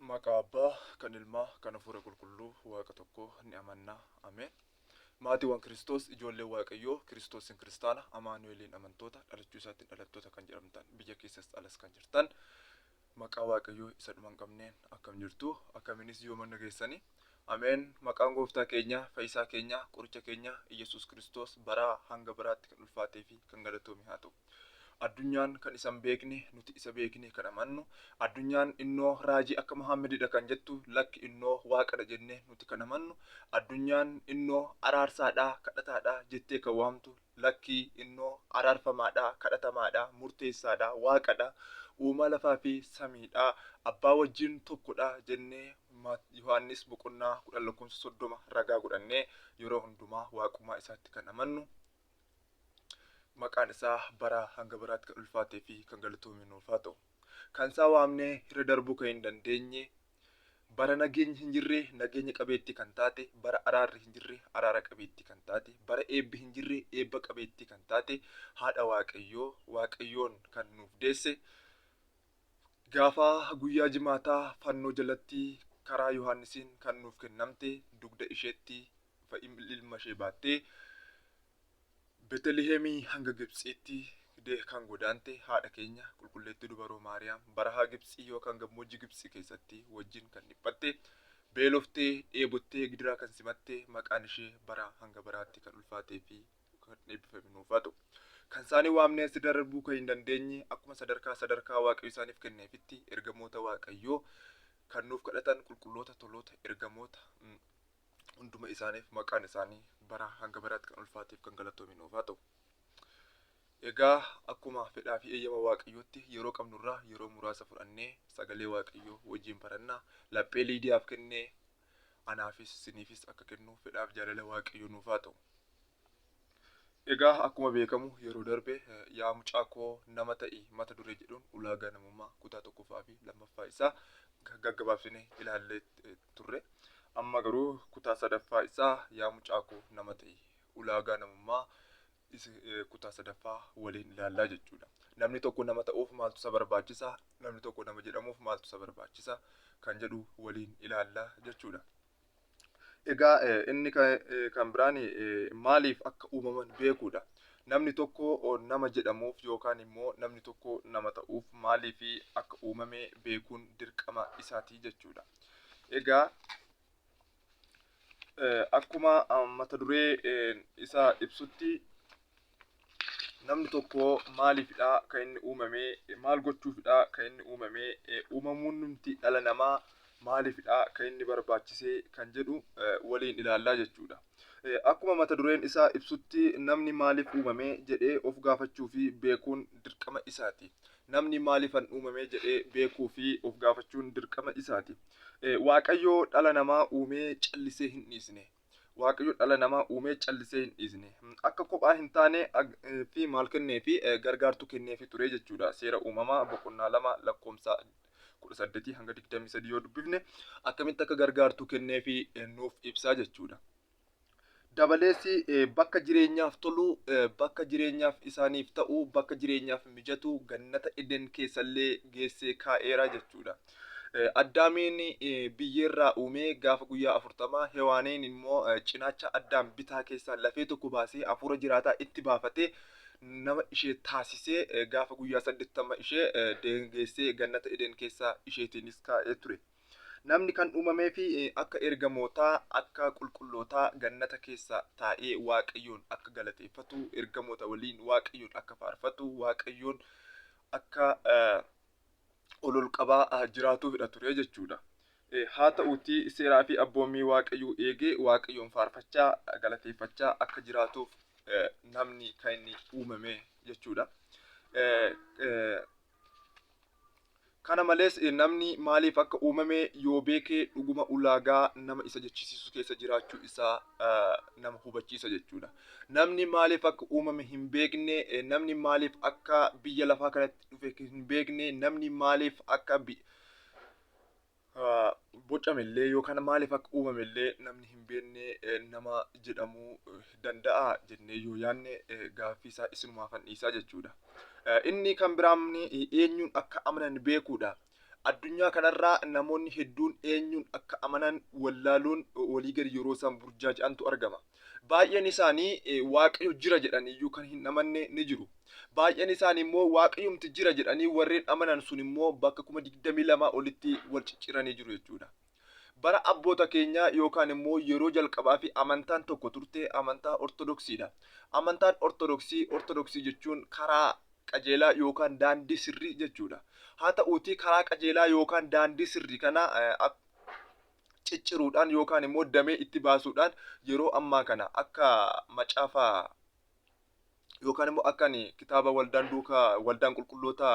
Maqaa Abbaa, kan Ilmaa, kan Hafuura Qulqulluu, Waaqa tokko ni amanna. Ameen. Maatiiwwan Kiristoos, ijoolleen Waaqayyoo, Kiristoosiin Kiristaana, Amaanu'eliin amantoota, dhalachuu isaatiin dhalattoota kan jedhamtan, biyya keessas alas kan jirtan, maqaa Waaqayyoo isa dhuma hin qabneen akkam jirtu, akkamiinis yoomanna geessani. Ameen. Maqaan Gooftaa keenya, Fayyisaa keenya, Qoricha keenya, Iyyasuus Kiristoos baraa hanga baraatti kan ulfaatee fi kan galatoome haa ta'u. Addunyaan kan isa hin beekne, nuti isa beeknee kan amannu, addunyaan innoo raajii akka Muhaammedidha kan jettu, lakki innoo Waaqadha jennee nuti kan amannu, addunyaan innoo araarsaadha, kadhataadha jettee kan waamtu, lakki innoo araarfamaadha, kadhatamaadha, murteessaadha, Waaqadha, uumaa lafaa fi samiidha, Abbaa wajjin tokkodha jennee Mat. Yohaannis boqonnaa 10 lakkoofsa 30 ragaa godhannee yeroo hundumaa Waaqummaa isaatti kan amannu, maqaan isaa baraa hanga baraatti kan ulfaatee fi kan galatoome nuuf haa ta'u. Kan isaa waamnee irra darbuu kan hin dandeenye, bara nageenyi hin jirre nageenya qabeettii kan taate, bara araarri hin jirre araara qabeettii kan taate, bara eebbi hin jirre eebba qabeettii kan taate haadha Waaqayyoo, Waaqayyoon kan nuuf deesse, gaafa guyyaa jimaataa fannoo jalatti karaa Yohaannisiin kan nuuf kennamte dugda isheetti fa ilma ishee baattee Betelihemii hanga Gibtsiitti fidee kan godaante haadha keenya qulqulleettii dubaroo Maariyaam barahaa Gibtsii yookaan gammoojji Gibtsi keessatti wajjin kan dhiphatte, beeloftee, dheebottee, gidiraa kan simatte, maqaan ishee baraa hanga baraatti kan ulfaatee fi kan eebbifame nuuf haa ta'u. Kan isaanii waamnee asitti darbuu kan hin dandeenye akkuma sadarkaa sadarkaa Waaqayyo isaaniif kenneefitti ergamoota Waaqayyoo kan nuuf kadhatan qulqulloota, toloota, ergamoota, hunduma isaaniif maqaan isaanii bara hanga baraatti kan ulfaateef kan galatoomi nuuf haa ta'u. Egaa akkuma fedhaa fi eeyyama waaqayyootti yeroo qabnurraa yeroo muraasa fudhannee sagalee waaqayyoo wajjin barannaa laphee liidiyaaf kennee anaafis siniifis akka kennu fedhaaf jaalala waaqayyoo nuuf haa ta'u. Egaa akkuma beekamu yeroo darbe eh, yaa mucaa koo nama ta'i mata duree jedhuun ulaagaa namummaa kutaa tokkoffaa fi lammaffaa isaa ga- gaggabaabsine ilaallee eh, turre. Amma garuu kutaa sadaffaa isaa yaa mucaakoo nama ta'i. Ulaagaa namummaa isa eh, kutaa sadaffaa waliin ilaallaa jechuudha. Namni tokko nama ta'uuf maaltu isa barbaachisa? Namni tokko nama jedhamuuf maaltu isa barbaachisa? Kan jedhu waliin ilaallaa jechuudha. Egaa eh, inni ka- eh, kan biraan eh, maaliif akka uumaman beekuudha. Namni tokko oh, nama jedhamuuf yookaan immoo namni tokko nama ta'uuf maaliif akka uumame beekuun dirqama isaati jechuudha. Egaa akkuma mata duree isaa ibsutti namni tokko maaliifidha kan inni uumame maal gochuufidha kan inni uumame uumamuun nuti dhala namaa maaliifidha kan inni barbaachise kan jedhu waliin ilaallaa jechuudha. Akkuma mata dureen isaa ibsutti namni maaliif uumame jedhee of gaafachuu fi beekuun dirqama isaati. Namni maaliifan uumame jedhee beekuu fi of gaafachuun dirqama isaati. Waaqayyo dhala namaa uumee callisee hin dhiisne. Waaqayyo dhala namaa uumee callisee hin dhiisne. Akka kophaa hin taane fi maal kennee fi gargaartuu kennee fi ture jechuudha. Seera uumamaa boqonnaa lama lakkoofsa kudha saddeetii hanga digdamii sadii yoo dubbifne akkamitti akka gargaartuu kennee fi nuuf ibsaa jechuudha. Dabalees bakka jireenyaaf tolu, bakka jireenyaaf isaaniif ta'u, bakka jireenyaaf mijatu gannata Eden keessallee geessee kaa'eera jechuudha. Addaamiin biyyeerraa uumee gaafa guyyaa afurtamaa Hewaaniin immoo cinaacha Addaam bitaa keessaa lafee tokko baasee hafuura jiraataa itti baafatee nama ishee taasisee gaafa guyyaa saddeettama ishee deengeessee gannata Eden keessaa isheetiinis kaa'ee ture. Namni kan uumameef akka ergamootaa, akka qulqullootaa gannata keessa taa'ee Waaqayyoon akka galateeffatu, ergamoota waliin Waaqayyoon akka faarfatu, Waaqayyoon akka ol ol qabaa jiraatuufidha ture jechuudha. Haa ta'uutii seeraa fi abboommii Waaqayyoo eegee Waaqayyoon faarfachaa, galateeffachaa akka jiraatuuf namni kan inni uumame jechuudha. Kana malees, namni maaliif akka uumame yoo beeke dhuguma ulaagaa nama isa jechisiisu keessa jiraachuu isaa nama hubachiisa jechuudha. Namni maaliif akka uumame hin beekne, namni maaliif akka biyya lafaa kanatti dhufe hin beekne, namni maaliif akka bocame illee yookaan maaliif akka uumame illee namni hin beekne nama jedhamuu danda'a jennee yoo yaadne gaaffii isaa isinumaa fannisa jechuudha. Inni kan biraan eenyuun akka amanan beekuudha. Addunyaa kanarraa namoonni hedduun eenyuun akka amanan wallaaluun walii gadi yeroo isaan burjaaja'antu argama. Baay'een isaanii Waaqayyo jira jedhanii iyyuu kan hin amanne ni jiru. Baay'een isaanii immoo Waaqayyumti jira jedhanii warreen amanan sun immoo bakka kuma digdamii lamaa olitti wal cicciranii jiru jechuudha. Bara abboota keenyaa yookaan immoo yeroo jalqabaa fi amantaan tokko turte amantaa Ortodoksiidha. Amantaan Ortodoksii, Ortodoksii jechuun karaa qajeelaa yookaan daandii sirrii jechuudha. Haa ta'uutii karaa qajeelaa yookaan daandii sirrii kana cicciruudhaan yookaan immoo damee itti baasuudhaan yeroo ammaa kana akka macaafa yookaan immoo akka ani kitaaba waldaan duuka waldaan qulqulloota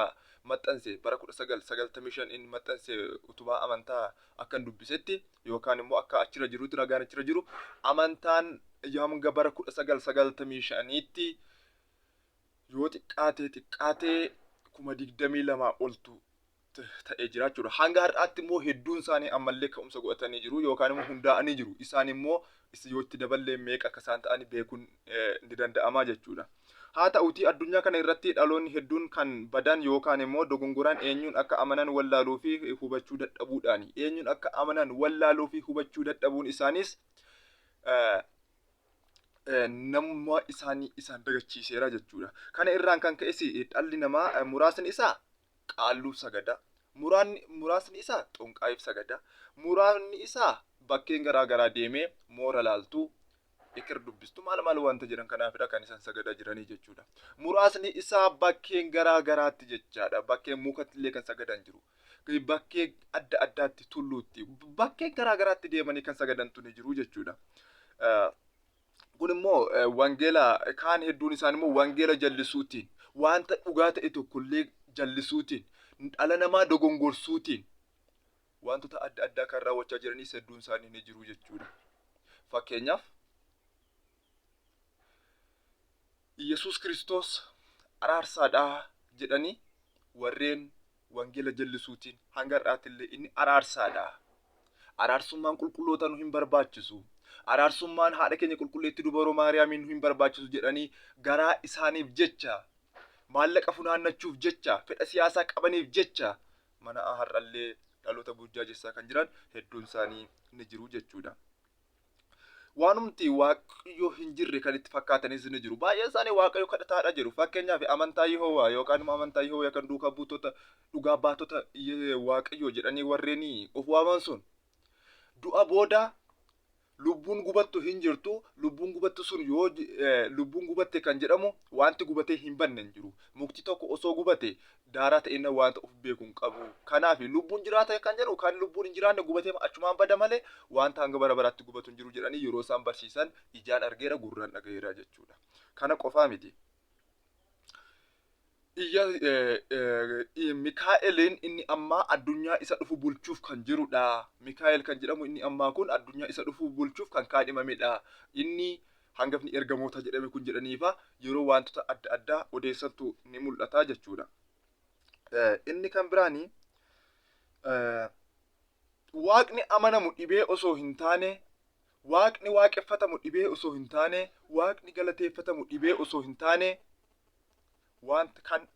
maxxanse bara 1995 inni maxxanse utubaa amantaa akkan dubbisetti yookaan immoo akka achirra jirutti ragaan achirra jiru amantaan hanga bara 1995tti yoo xiqqaatee xiqqaatee kuma digdamii lamaa oltu ta'ee jira jechuudha. Hanga har'aatti immoo hedduun isaanii ammallee ka'umsa godhatanii jiru yookaan immoo hundaa'anii jiru. Isaan immoo yoo itti daballee meeqa akka isaan ta'an beekuun ni danda'ama jechuudha. Haa ta'utii addunyaa kana irratti dhaloonni hedduun kan badan yookaan immoo dogongoran eenyuun akka amanan wallaaluu fi hubachuu dadhabuudhaani. Eenyuun akka amanan wallaaluu fi hubachuu dadhabuun isaaniis namummaa isaanii isaan dagachiiseera jechuudha. Kana irraan kan ka'es dhalli namaa muraasni isaa Qaalluuf sagada, muraanni, muraasni isaa Xonqaayiif sagada, muraanni isaa bakkeen garaa garaa deemee moora laaltuu, eker dubbistu maal maal wanta jedhan kanaafidha kan isan sagadaa jiranii jechuudha. Muraasni isaa bakkeen garaa garaatti jechaadha. Bakkeen mukattillee kan sagadan jiru. Bakkee adda addaatti tulluutti bakkeen garaa garaatti deemanii kan sagadantu ni jiru jechuudha. Kun immoo wangeela kaan hedduun isaan immoo wangeela jallisuutiin wanta dhugaa ta'e tokkollee jallisuutiin dhala namaa dogongorsuutiin wantoota adda addaa kan raawwachaa jiranis hedduun isaanii ni jiru jechuudha. Fakkeenyaaf Yesuus Kiristoos araarsaadhaa jedhanii warreen Wangeela jallisuutiin hanga har'aatillee inni araarsaadha. Araarsummaan qulqullootaa nu hin barbaachisu. Araarsummaan haadha keenya qulqulleetti dubaroo Maariyaamiin nu hin barbaachisu jedhanii garaa isaaniif jecha, maallaqa funaannachuuf jecha, fedha siyaasaa qabaniif jecha mana har'allee dhaloota burjaajessaa kan jiran hedduun isaanii ni jiru jechuudha. Waanumti Waaqayyoo hin jirre kan itti fakkaatanis ni jiru. Baay'een isaanii Waaqayyo kadhataadha jedhu. Fakkeenyaaf amantaa Yihowaa yookaan immoo amantaa Yihowaa yookaan duukaa buutota dhugaa baatota Ye- Waaqayyoo jedhanii warreen of waaman sun du'a booda lubbuun gubattu hin jirtu. Lubbuun gubattu sun yoo ji- eh, lubbuun gubatte kan jedhamu wanti gubatee hin banne hin jiru. Mukti tokko osoo gubate daaraa ta'e inni wanta of beeku hin qabu. Kanaaf lubbuun jiraata kan jedhu kan lubbuun hin jiraanne gubatee achumaan bada malee wanta hanga bara baraatti gubatu hin jiru jedhanii yeroo isaan barsiisan ijaan argeera gurraan dhagaheera jechuudha. Kana qofaa miti. Iyya Mikaa'eliin inni ammaa addunyaa isa dhufu bulchuuf kan jirudha. Mikaa'el kan jedhamu inni ammaa kun addunyaa isa dhufu bulchuuf kan kaadhimamedha. Inni Hangafni ergamoota jedhame kun jedhaniifa yeroo waantota adda addaa odeessantu ni mul'ata jechuudha. Inni kan biraan waaqni amanamu dhibee osoo hin taane waaqni waaqeffatamu dhibee osoo hin taane waaqni galateeffatamu dhibee osoo hin taane wanta kan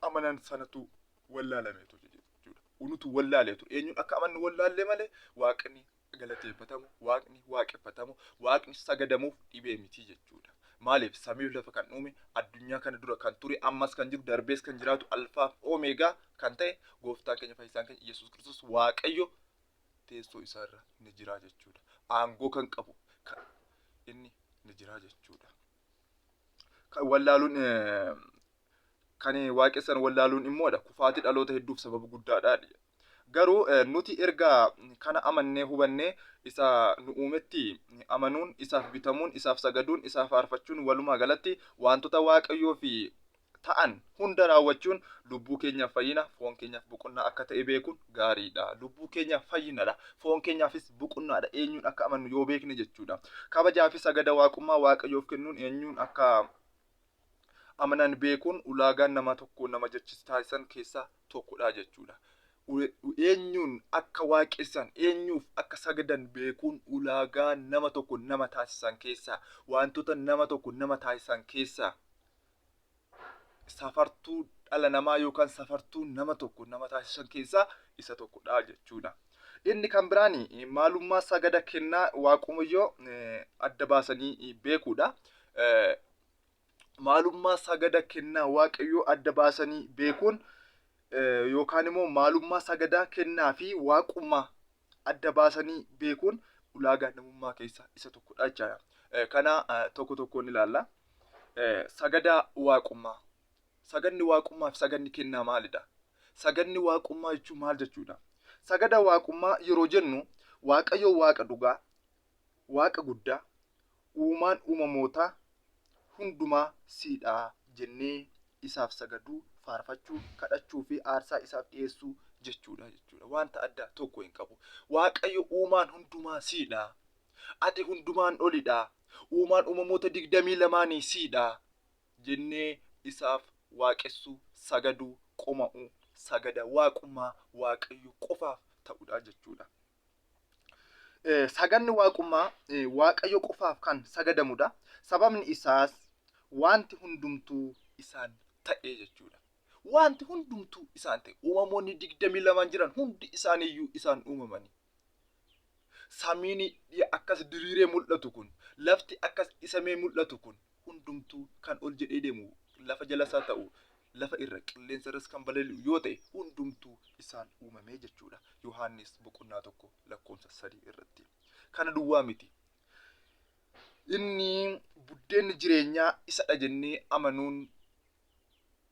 amanan sanatu wallaalameetu jechuudha. Unutu wallaaleetu eenyuun akka amannu wallaallee malee waaqni galateeffatamu, waaqni waaqeffatamu, waaqni sagadamuuf dhibee miti jechuudha. Maaliif samiif lafa kan uume addunyaa kana dura kan ture ammas kan jiru darbees kan jiraatu alfaaf oomeegaa kan ta'e gooftaan keenya fayyisaan keenya Yesuus Kiristoos Waaqayyo teessoo isaarra ni jira jechuudha. Aangoo kan qabu kan inni ni jira jechuudha. Kan wallaaluun eh, kan waaqessan wallaaluun immoodha. Kufaatii dhaloota hedduuf sababa guddaadha. Garuu eh, nuti erga kana amannee hubannee isa nu uumetti amanuun, isaaf bitamuun, isaaf sagaduun, isaa faarfachuun walumaa galatti wantoota Waaqayyoo fi ta'an hunda raawwachuun lubbuu keenyaaf fayyina, foon keenyaaf boqonnaa akka ta'e beekuun gaariidha. Lubbuu keenyaaf fayyinadha. Foon keenyaafis boqonnaadha. Eenyuun akka amannu yoo beekne jechuudha. Kabajaa fi sagada waaqummaa Waaqayyoof kennuun eenyuun akka amanan beekuun ulaagaan nama tokko nama jechis taasisan keessaa tokkodha jechuudha. Eenyuun akka waaqessan, eenyuuf akka sagadan beekuun ulaagaa nama tokko nama taasisan keessaa, wantoota nama tokko nama taasisan keessaa safartuu dhala namaa yookaan safartuu nama tokko nama taasisan keessaa isa tokkodha jechuudha. Inni kan biraan maalummaa sagada kennaa Waaqayyoo adda baasanii beekuudha. Maalummaa sagada kennaa Waaqayyoo adda baasanii beekuun yookaan immoo maalummaa sagadaa kennaa fi waaqummaa adda baasanii beekuun ulaagaa namummaa keessaa isa tokkodha jechaadha. Eh, Kana eh, tokko tokkoon ilaalla. Eh, Sagadaa waaqummaa. Sagadni waaqummaa fi sagadni kennaa maalidha? Sagadni waaqummaa jechuun maal jechuudha? Sagada waaqummaa yeroo jennu Waaqayyo waaqa dhugaa, waaqa guddaa, Uumaan uumamootaa hundumaa sii dha jennee isaaf sagaduu, faarfachuu, kadhachuu fi aarsaa isaaf dhiyeessuu jechuu dha jechuu dha. Wanta addaa tokko hin qabu. Waaqayyo uumaan hundumaa sii dha. Ati hundumaan oli dha. Uumaan uumamoota digdamii lamaanii sii dha jennee isaaf waaqessuu, sagaduu, qoma'uu, sagada waaqummaa Waaqayyo qofaaf ta'u dha jechuu dha. sagadni waaqummaa Waaqayyo qofaaf kan sagadamudha. Sababni isaas wanti hundumtuu isaan ta'e jechuudha. Wanti hundumtuu isaan ta'e uumamoonni digdamii lamaan jiran hundi isaaniiyyuu isaan uumamanii. Samiin akkas diriiree mul'atu kun, lafti akkas dhisamee mul'atu kun, hundumtuu kan ol jedhee deemu, lafa jalas haa ta'u lafa irra, qilleensa irras kan balali'u yoo ta'e hundumtuu isaan uumame jechuu dha. Yohaannis boqonnaa 1 lakkoofsa 3 irratti. Kana duwwaa miti. Inni buddeenni jireenyaa isa dha jennee amanuun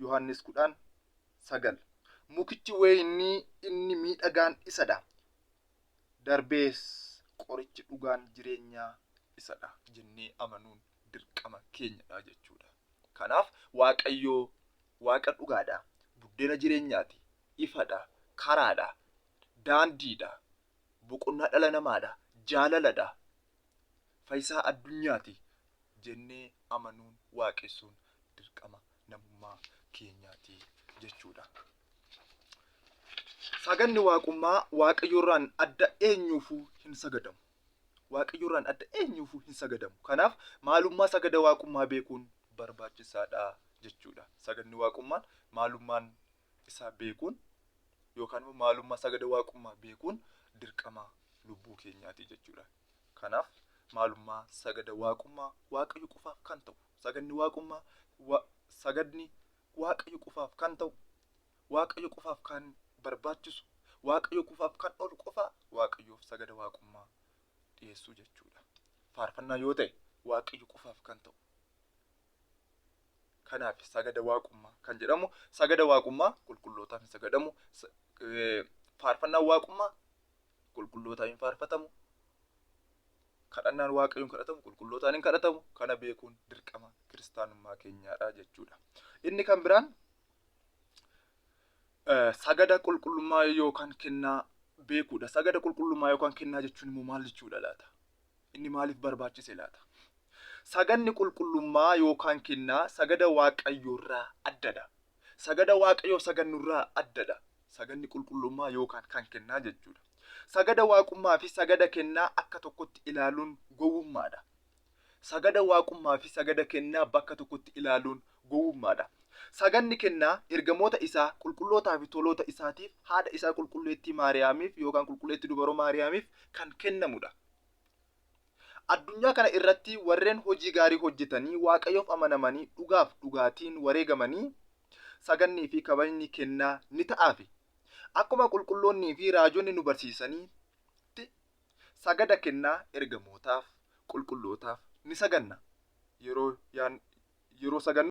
Yohaannis 10, 9 Mukichi weeynii inni miidhagaan isa dha, darbees qorichi dhugaan jireenyaa isa dha jennee amanuun dirqama keenya dha jechuu dha. Kanaaf Waaqayyo Waaqa dhugaa dha, buddeena jireenyaa ti, ifa dha, karaa dha, daandii dha, boqonnaa dhala namaa dha, jaalala dha, Fayisaa addunyaati jennee amanuun, waaqessuun dirqama namummaa keenyaati jechuudha. Saganni waaqummaa Waaqayyorraan adda eenyuufuu hin sagadamu. Waaqayyorraan adda eenyuufuu hin sagadamu. Kanaaf maalummaa sagada waaqummaa beekuun barbaachisaadha jechuudha. Saganni waaqummaan maalummaan isaa beekuun yookaan immoo maalummaa isaa gada waaqummaa beekuun dirqama lubbuu keenyaati jechuudha. Kanaaf maalummaa sagada waaqummaa waaqayyo qofaaf kan ta'u sagadni waaqummaa wa- sagadni waaqayyo qofaaf kan ta'u waaqayyo qofaaf kan barbaachisu waaqayyo qofaaf kan oolu qofaa waaqayyoof sagada waaqummaa dhiyeessuu jechuudha. Faarfannaa yoo ta'e waaqayyo qofaaf kan ta'u Kanaaf sagada waaqummaa kan jedhamu sagada waaqummaa qulqullootaaf hin sagadamu. Faarfannaan waaqummaa qulqullootaaf hin faarfatamu. Kadhannaan waaqayyoon kadhatamu qulqullootaan hin kadhatamu. Kana beekuun dirqama kiristaanummaa keenyaadha jechuudha. Inni kan biraan sagada qulqullummaa yookaan kennaa beekuudha. Sagada qulqullummaa yookaan kennaa jechuun immoo maal jechuudha laata? Inni maaliif barbaachise laata? Sagadni qulqullummaa yookaan kennaa sagada Waaqayyoorraa addadha. Sagada Waaqayyoo sagannurraa addadha. Sagadni qulqullummaa yookaan kan kennaa jechuudha. Sagada Waaqummaa fi sagada kennaa akka tokkotti ilaaluun gowwummaadha. Sagada Waaqummaa fi sagada kennaa bakka tokkotti ilaaluun gowwummaa dha. Saganni kennaa ergamoota isaa qulqullootaa fi toloota isaatiif, haadha isaa qulqulleettii Maariyaamiif yookaan qulqulleetti dubaroo Maariyaamiif kan kennamu dha. Addunyaa kana irratti warreen hojii gaarii hojjetanii Waaqayyoof amanamanii dhugaaf dhugaatiin wareegamanii sagannii fi kabajni kennaa ni ta'aafi. Akkuma qulqulloonnii fi raajonni nu barsiisanitti Sagada kennaa ergamootaaf, qulqullootaaf ni saganna. Yeroo, yeroo sagannu.